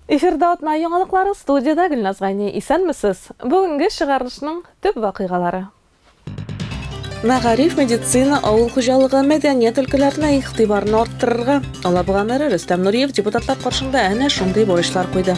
Эфирда атна яңалыклары студияда Гөлназ Гайни. Исәнмесез. Бүгенге чыгарылышның төп вакыйгалары. Мәгариф, медицина, авыл хуҗалыгы, мәдәният өлкәләренә игътибарны арттырырга Алабуга мэры Рөстәм Нуриев депутатлар каршында әнә шундый бурычлар куйды.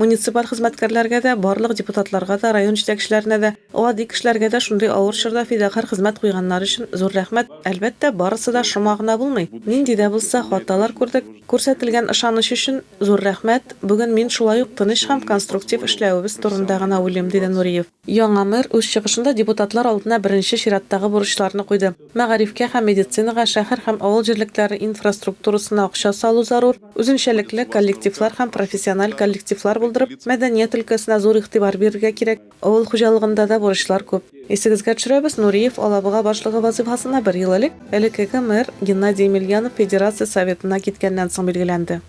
Муниципаль хезмәткәрләргә дә, барлык депутатларга да, район җитәкчеләренә дә, гади кешеләргә дә шундый авыр чорда фидакарь хезмәт куйганнары өчен зур рәхмәт. Әлбәттә, барысы да шома гына булмый. Нинди дә булса хаталар күрдек. Күрсәтелгән ышаныч өчен зур рәхмәт. Бүген мин шулай ук тыныч һәм конструктив эшләвебез турында гына уйлыйм, диде Нуриев. Яңа мэр үз чыгышында депутатлар алдына беренче чираттагы бурычларны куйды. Мәгарифкә һәм медицинага, шәһәр һәм авыл җирлекләре инфраструктурасына акча салу зарур, үзенчәлекле коллективлар һәм профессиональ коллективлар булдырып, мәдәният өлкәсенә зур игътибар бирергә кирәк. Авыл хуҗалыгында да бурычлар күп. Исегезгә төшерәбез, Нуриев Алабуга башлыгы вазыйфасына бер ел элек, элеккеге мэр Геннадий Емельянов Федерация Советына киткәннән соң билгеләнде.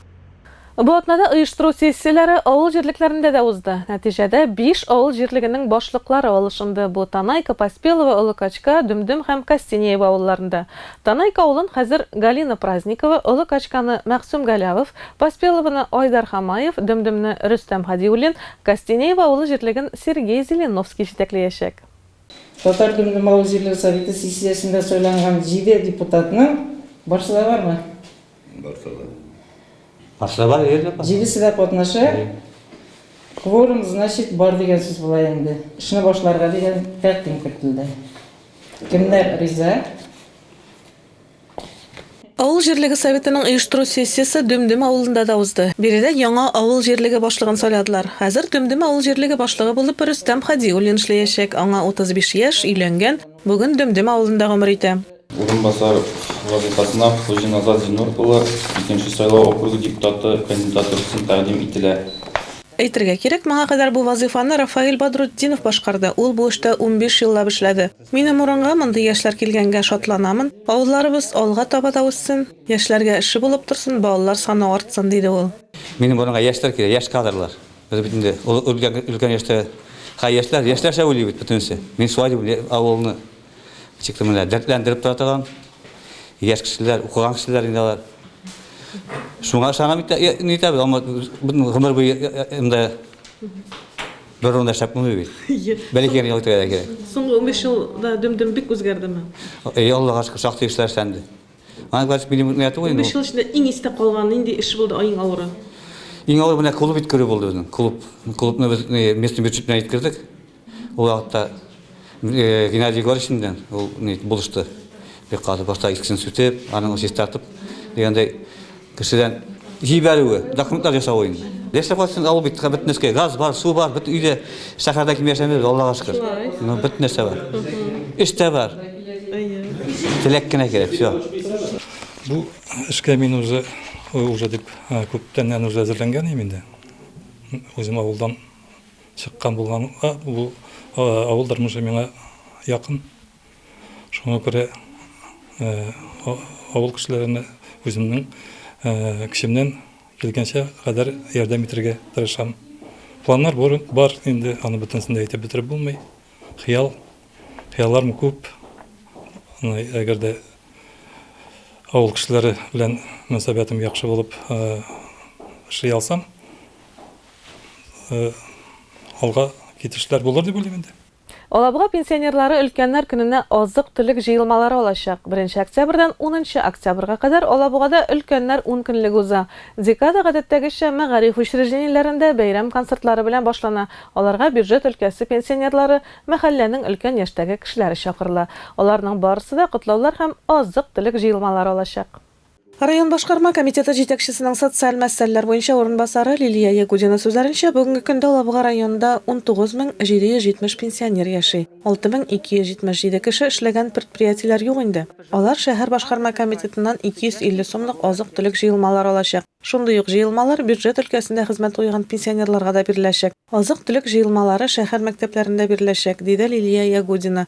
Бу атнада оештыру сессияләре авыл җирлекләрендә дә узды. Нәтиҗәдә биш авыл җирлегенең башлыклары алышынды, бу Танайка, Поспелово, Олы Качка, Дөмдөм һәм Костенеево авылларында. Танайка авылын хәзер Галина Праздникова, Олы Качканы, Мәгъсүм Галәвов, Поспеловоны, Айдар Хамаев, Дөмдөмне, Рөстәм Һадиуллин, Костенеево авылы җирлеген Сергей Зеленовский җитәкләячәк. Татар Гөмле Малы җирлек советы сессиясендә сайланган җиде депутатның барсы да бармы? Барсы да. Барсы да бар, җирлек бар. Җидесе дә катнаша. Кворум, значит, бар дигән сүз була инде. Эшне башларга дигән тәкъдим кертелде. Кемнәр риза? Авыл җирлеге советының оештыру сессиясе Дөмдөм авылында да узды. Биредә яңа авыл җирлеге башлыгын сайладылар. Хәзер Дөмдөм авыл җирлеге башлыгы булып Рөстәм Һадиуллин эшләячәк, аңа 35 яшь, өйләнгән, бүген Дөмдөм авылында гомер итә. Урынбасар вазыйфасына Хуҗиназар Зиннур улы, Икенче сайлау округы депутаты кандидаты өчен тәкъдим ителә. Әйтергә кирәк, моңа кадәр бу вазыйфаны Рафаэль Бадрутдинов башкарды, ул бу эштә унбиш еллап эшләде. Минем урынга мондый яшьләр килгәнгә шатланамын, авылларыбыз алга таба да үссен, яшьләргә эше булып торсын, балалар саны артсын, диде ул. Минем урынга яшьләр кирәк, яшь кадрлар. Без бит инде өлкән яшьтә һәр яшьләр, яшьләрчә уйлый бит бөтенесе. Мин шулай дип уйлыйм, авылны ничек тә менә дәртләндереп тора торган яшь кешеләр, укыган кешеләр инде алар. Шуңа ышанам, нитәбез, гомер буе монда. Бер урында шәп булмый бит. Бәләкәй генә итәргә дә кирәк. Соңгы 15 елда дөм-дөм бик үзгәрдеме? Әй, Аллага шөкер, шактый эшләр эшләнде. Аны бәлки милли мөмкинияте түгел инде. 15 ел эчендә иң истә калган нинди эш булды иң авыры? Иң авыр менә клуб иткерү булды безнең. Клуб. Клубны без местный бюджет белән иткердек. Ул вакытта Геннадий Егорович белән ул ни булышты. Бик каты башта искесен сүтеп, аның чистартып дигәндәй кешедән җибәрүе, документлар ясавы инде. Яшәп кайтсын авыл бит, бөтен нәрсә газ бар, су бар, бөтен өйдә шәһәрдә ким яшәмибез, Аллага шөкер. Ну, бөтен нәрсә бар. Эш тә бар. Теләк кенә кирәк, все. Бу эшкә мин уже уже дип күптәннән уже әзерләнгән идем инде. Үзем авылдан Чыккан булганга, бу авыл тормышы миңа якын. Шуңа күрә авыл кешеләренә үземнең көчемнән килгәнчә кадәр ярдәм итәргә тырышам. Планнар бар инде, аны бөтенесен дә әйтеп бетереп булмый. Хыял, хыялларым күп. Әгәр дә авыл кешеләре белән мөнәсәбәтем яхшы булып эшли алсам, алга китешләр булыр дип уйлыйм инде. Алабуга пенсионерлары Өлкәннәр көненә азык-төлек җыелмалары алачак. Беренче октябрьдән унынчы октябрьгә кадәр Алабугада Өлкәннәр ункөнлеге уза. Декада, гадәттәгечә, мәгариф учреждениеләрендә бәйрәм концертлары белән башлана, аларга бюджет өлкәсе пенсионерлары, мәхәлләнең өлкән яшьтәге кешеләре чакырыла. Аларның барысы да котлаулар һәм азык-төлек җыелмалары алачак. Район башкарма комитеты җитәкчесенең социаль мәсьәләләр буенча урынбасары Лилия Ягудина сүзләренчә, бүгенге көндә Алабуга районында 19770 пенсионер яши, 6277 кеше эшләгән предприятиеләр юк инде. Алар шәһәр башкарма комитетыннан 250 сумлык азык-төлек җыелмалары алачак. Шундый ук җыелмалар бюджет өлкәсендә хезмәт куйган пенсионерларга да биреләчәк. Азык-төлек җыелмалары шәһәр мәктәпләрендә биреләчәк, диде Лилия Ягудина.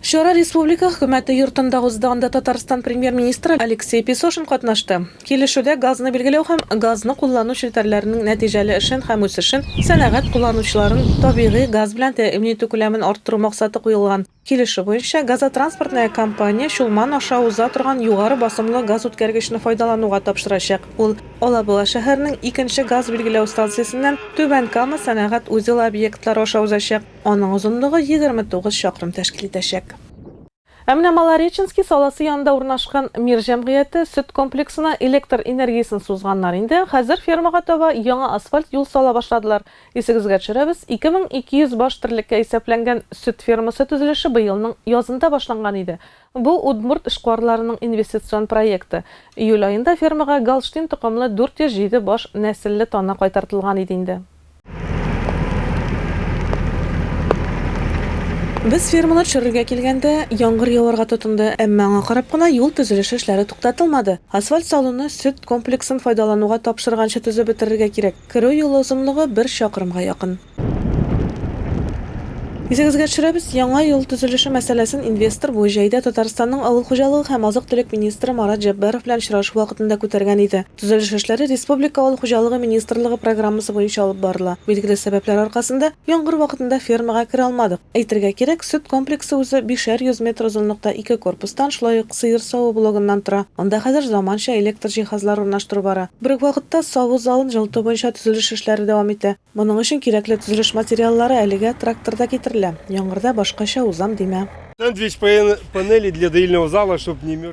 Чара республика Хөкүмәте йортында узды, анда Татарстан Премьер-министры Алексей Песошин катнашты. Килешүдә газны билгеләү һәм газны куллану челтәрләренең нәтиҗәле эшен һәм үсешен, сәнәгать кулланучыларын табигый газ белән тәэмин итү күләмен арттыру максаты куелган. Килешү буенча, газотранспортная компания Чулман аша уза торган югары басымлы газүткәргечне файдалануга тапшырачак. Ул Алабуга шәһәренең икенче газ билгеләү станциясеннән Түбән Кама сәнәгать узелы объектлары аша узачак. Аның озынлыгы егерме тугыз чакрым тәшкил итәчәк. Ә менә Малореченский саласы янында урнашкан Мир җәмгыяте сөт комплексына электр энергиясен сузганнар инде, хәзер фермага таба яңа асфальт юл сала башладылар. Исегезгә төшерәбез, 2200 баш терлеккә исәпләнгән сөт фермасы төзелеше быелның язында башланган иде. Бу, удмурт эшкуарларының инвестицион проекты. Июль аенда фермага голштин токымлы 407 баш нәселле тана кайтартылган иде инде. Без ферманы төшерергә килгәндә, яңгыр яварга тотынды, әмма аңа карап кына юл төзелеше эшләре туктатылмады. Асфальт салуны сөт комплексын файдалануга тапшырганчы төзеп бетерергә кирәк. Керү юлы озынлыгы бер чакрымга якын. Исегезгә төшерәбез, яңа юл төзелеше мәсьәләсен инвестор бу җәйдә Татарстанның авыл хуҗалыгы һәм азык-төлек министры Марат Җәббаров белән очрашу вакытында күтәргән иде. Төзелеш эшләре республика авыл хуҗалыгы министрлыгы программасы буенча алып барыла. Билгеле сәбәпләр аркасында, яңгыр вакытында фермага керә алмадык. Әйтергә кирәк, сөт комплексы үзе бишәр йөз метр озынлыкта ике корпустан, шулай ук сыер саву блогыннан тора. Анда хәзер заманча электр җиһазлары урнаштыру бара. Бер үк вакытта саву залын җылыту буенча төзелеш эшләре дәвам итә. Моның өчен кирәкле төзелеш материаллары әлегә тракторда китерелә. Яңгырда башкача узам димә.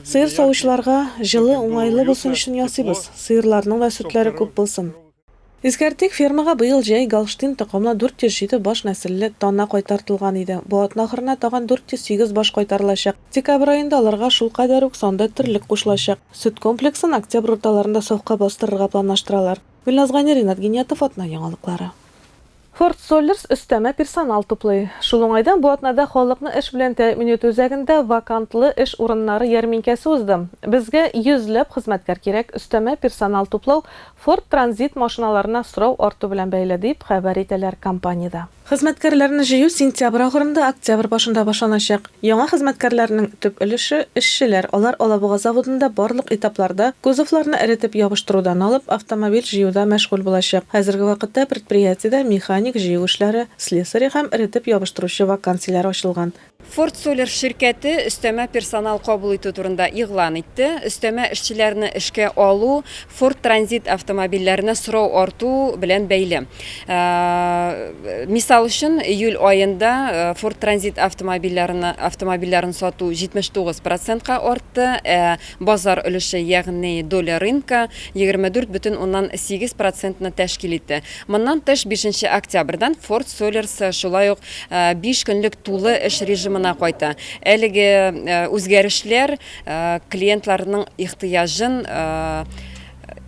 Сыер савучыларга җылы, уңайлы булсын өчен ясыйбыз. Сыерларның да сөтләре күп булсын. Искәртик, фермага быел җәй Голштин токымлы 407 баш нәселле тана кайтартылган иде. Бу атна ахырына тагын 408 баш кайтарылачак. Декабрь аенда аларга шулкадәр үк санда терлек кушылачак. Сөт комплексын октябрь урталарында сафка бастырырга планлаштыралар. Гөлназ Гани, Ринат Гиниятов, атна яңалыклары. Форд Соллерс өстәмә персонал туплый. Шул уңайдан бу атнада халыкны эш белән тәэмин итү үзәгендә вакантлы эш урыннары ярминкәсе узды. Безгә йөзләп хезмәткәр кирәк, өстәмә персонал туплау Форд Транзит машиналарына сорау арту белән бәйле, дип хәбәр итәләр компаниядә. Хезмәткәрләрне җыю сентябрь ахырында, октябрь башында башланачак. Яңа хезмәткәрләрнең төп өлеше, эшчеләр, алар Алабуга заводында барлык этапларда, кузовларны эретеп ябыштырудан алып, автомобиль җыюда мәшгуль булачак. Хәзерге вакытта предприятиедә механик, җыю эшләре слесаре һәм эретеп ябыштыручы вакансияләр ачылган. Форд Солер ширкәте өстәмә персонал кабул итү турында игълан итте. Өстәмә эшчеләрне эшкә алу Ford Transit автомобильләренә сорау арту белән бәйле. Мисал өчен, июль аенда Ford Transit автомобильләрен автомобильләрен сату 79 процентка артты, ә Базар өлеше, ягъни доля рынка, егерме дүрт бөтен уннан сигез процентны тәшкил итте. Моннан тыш, бишенче октябрьдән Форд Солерс шулай ук биш көнлек тулы эш режимына кайта. Әлеге үзгәрешләр клиентларның ихтыяҗын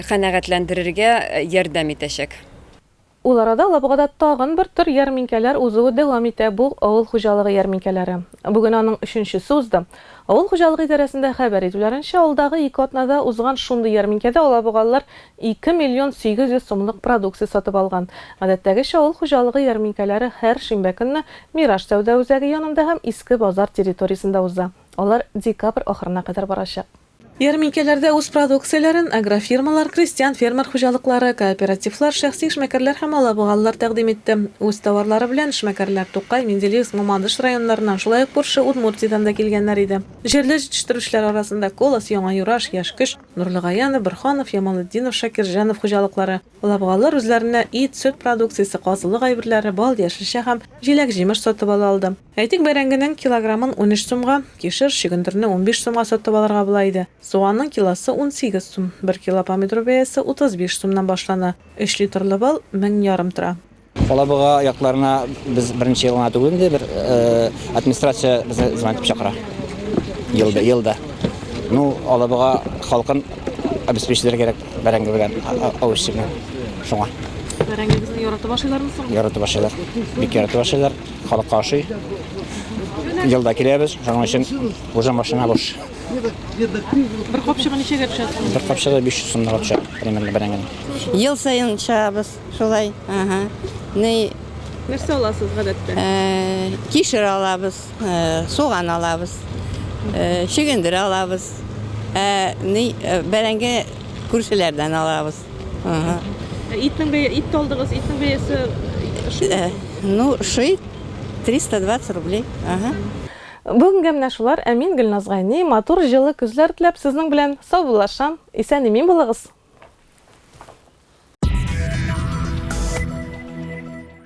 канәгатьләндерергә ярдәм итәчәк. Ул арада Лабугада тагын бер төр ярминкәләр узуы дәвам итә, бу, авыл хуҗалыгы ярминкәләре. Бүген аның өченчесе узды. Авыл хуҗалыгы идарәсендә хәбәр итүләренчә, алдагы ике атнада узган шундый ярминкәдә алабугалылар ике миллион сигез йөз сумлык продукция сатып алган. Гадәттәгечә, авыл хуҗалыгы ярминкәләре һәр шимбә көнне Мираж сәүдә үзәге янында һәм Иске базар территориясендә уза. Алар декабрь ахырына кадәр барачак. Ярминкәләрдә үз продукцияләрен агрофирмалар, крестьян-фермер хуҗалыклары, кооперативлар, шәхси эшмәкәрләр һәм алабугалылар тәкъдим итте. Үз товарлары белән эшмәкәрләр Тукай, Менделеевск, Мамадыш районнарыннан, шулай ук күрше Удмуртиядән дә килгәннәр иде. Җирле җитештерүчеләр арасында Колос, Яңа Юраш, Яшь Көч, Нурлы Гаянов, Борһанов, Ямалетдинов, Шакирҗанов хуҗалыклары, алабугалылар үзләренә ит, сөт продукциясе, казылык әйберләре, бал, яшелчә һәм җиләк-җимеш сатып ала алды. Әйтик, бәрәңгенең килограммын унөч сумга, кишер, чөгендерне унбиш сумга сатып алырга була иде. Суганның килосы унсигез сум, бер кило помидор бәясе утыз биш сумнан башлана, өч литрлы бал мең ярым тора. Алабуга якларына без беренче ел гына түгел инде, бер администрация безне звонок итеп чакыра. Елда, елда. Ну, Алабуга халкын обеспечитләргә кирәк бәрәңге белән, авыз чебен. Шуңа. Бәрәңгегезне яратып ашыйлармы соң? Яратып ашыйлар. Бик яратып ашыйлар. Халык каршы. Елда киләбез, шуның өчен уже машина буш. Бер капчыгы ничәгә төшә? Бер капчыгы 500 сумга төшә, примерно бер әңгәмә. Ел саен чыгабыз шулай. Ага. Ни Нәрсә аласыз гадәттә? Э, кишер алабыз, э, суган алабыз, э, чөгендер алабыз. Ә ни бәрәңге күршеләрдән алабыз. Ага. Итнең бәя, ит тә алдыгыз, итнең бәясе шул. Э, Ну, шый 320 рублей. Ага. Бүгенгә менә шулар, ә мин, Гөлназ Гайни, матур, җылы көзләр теләп, сезнең белән саубуллашам. Исән-имин булыгыз!